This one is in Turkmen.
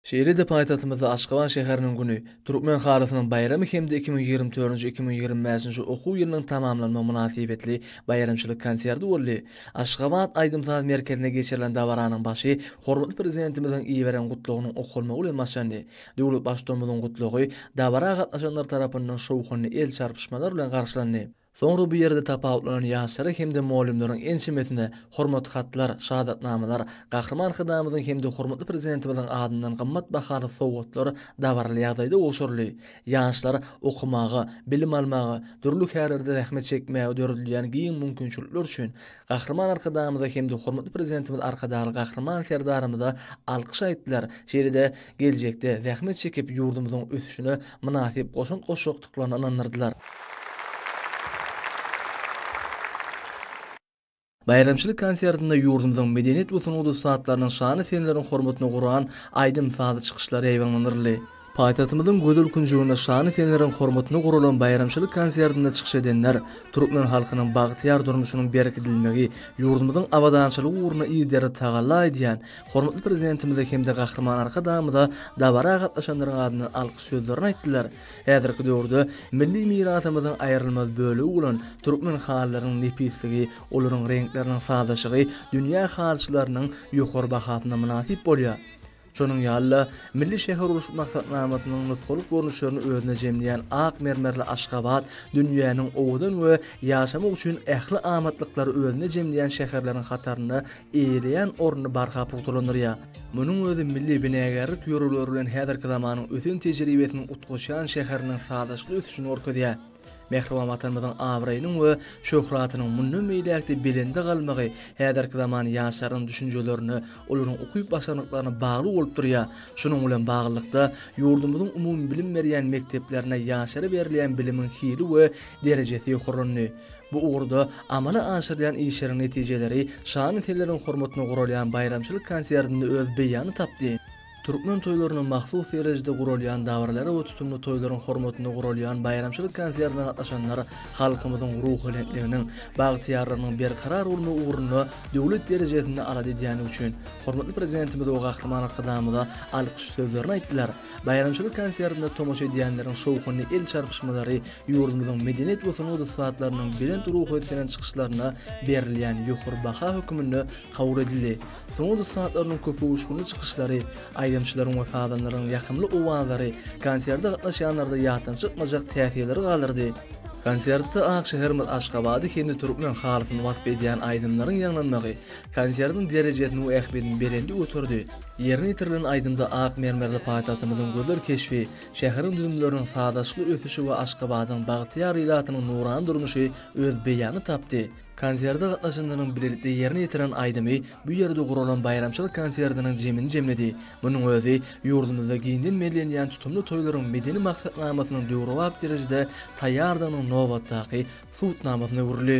Şeýle-de paýtagtymyzda Aşgabat şäheriniň güni, Türkmen halysynyň baýramy hem-de iki müň ýigrimi dördünji, iki müň ýigrimi bäşinji okuw ýylynyň tamamlanmagy mynasybetli baýramçylyk konserti boldy. Aşgabat aýdym-saz merkezinde geçirilen dabaranyň başy hormatly Prezidentimiziň iberen Gutlagynyň okalmagy bilen başlandy. Döwlet Baştutanymyzyň Gutlagy dabara gatnaşanlar tarapyndan şowhunly el çarpyşmalar bilen garşylandy. Soňra bu ýerde tapawutlanan ýaşlara hem-de mugallymlaryň ençemesine Hormat hatlar, Şahatnamalar, Gahryman Arkadagymyzyň hem-de hormatly Prezidentimiziň adyndan gymmat bahaly sowgatlar dabaraly ýagdaýda gowşuryldy. Ýaşlar okamaga, bilim almaga, dürli kärlerde zähmet çekmäge döredilýän giň mümkinçilikler üçin Gahryman Arkadagymyza hem-de hormatly Prezidentimiz Arkadagly Gahryman Serdarymyza alkyş aýtdylar, şeýle-de geljekde zähmet çekip ýurdumyzyň ösüşine mynasyp goşant goşjak gutlagyny ynandyrdylar. Baýramçylyk konsertinde ýurdumyzyň medeniýet we sungat ussatlarynyň şanly seneleriň hormatyna guran aýdym-sazly çykyşlary ýaýbaňlandyryldy. Paýtagtymyzyň gözel künjeginde şanly seneleriň hormatyna guralan baýramçylyk konsertinde çykyş edenler türkmen halkynyň bagtyýar durmuşynyň berkidilmegi, ýurdumyzyň abadançylygy ugrunda yzygiderli tagalla edýän hormatly Prezidentimize hem-de Gahryman Arkadagymyza dabara gatnaşanlaryň adyndan alkyş sözlerini aýtdylar Häzirki döwürde milli mirasymyzyň aýrylmaz bölegi bolan türkmen halylarynyň nepisligi, olaryň reňkleriniň sazlaşygy dünýä halyçylarynyň ýokary bahasyna mynasyp bolýar. Şonuň ýaly-da, milli şähergurluşyk maksatnamasynyň nusgalyk görnüşlerini özünde jemleýän ak mermerli Aşgabat dünýäniň owadan we ýaşamak üçin ähli amatlyklary özünde jemleýän şäherleriň hatarynda eýeleýän ornuny barha pugtalandyrýar. Munuň özi milli binagärlik ýörelgeleri bilen häzirki zamanyň ösen tejribesiniň utgaşýan şäheriniň sazlaşykly ösüşini görkezýär. Mähriban Watanymyzyň abraýynyň we şöhratynyň mundan beýläk-de belende galmagy häzirki zaman ýaşlarynyň düşünjelerine, olaryň ukyp-başarnyklaryna bagly bolup durýar. Şunuň bilen baglylykda, ýurdumyzyň umumybilim berýän mekdeplerinde ýaşlara berilýän bilimiň hili we derejesi ýokarlandy. Bu ugurda amala aşyrylýan işleriň netijeleri şa-nesileriň hormatyna guralýan baýramçylyk konsertinde öz beýanyny tapdy. Türkmen toýlaryna mahsus derejede guralýan dabaralara we tutumly toýlaryň hormatyna guralýan baýramçylyk konsertine gatnaşanlar halkymyzyň ruhubelentliginiň, bagtyýarlygynyň berkarar bolmagy ugrunda döwlet derejesinde alada edýändigi üçin hormatly Prezidentimize we Gahryman Arkadagymyza alkyş sözlerini aýtdylar. Baýramçylyk konsertine tomaşa edýänleriň şowhunly el çarpyşmalary ýurdumyzyň medeniýet we sungat ussatlarynyň belent ruhy ösdüren çykyşlaryna berilýän ýokary baha hökmünde kabul edildi. Sungat ussatlarynyň köpuguşgynly çykyşlary, aýdymçylaryň we sazanlaryň ýakymly owazlary konserde gatnaşýanlarda ýatdan çykmajak täsirleri galdyrdy. Konsertde ak şäherimiz Aşgabady hem-de türkmen halysyny wasp edýän aýdymlaryň ýaňlanmagy konsertiň derejesini we ähmiýetini belende göterdi. Ýerine ýetirilen aýdymda ak mermerli paýtagtymyzyň gözel keşbi, şäheriň düzümleriniň sazlaşykly ösüşi we Aşgabadyň bagtyýar ilatynyň nurana durmuşy öz beýanyny tapdy. Konserde gatnaşanlaryň bilelikde ýerine ýetiren aýdymy bu ýerde guralan baýramçylyk konsertiniň jemini jemledi. Munuň özi ýurdumyzda giňden bellenýän tutumly toýlaryň medeni maksatnamasynyň döwrebap derejede taýýardygynyň nobatdaky subutnamasyna öwrüldi.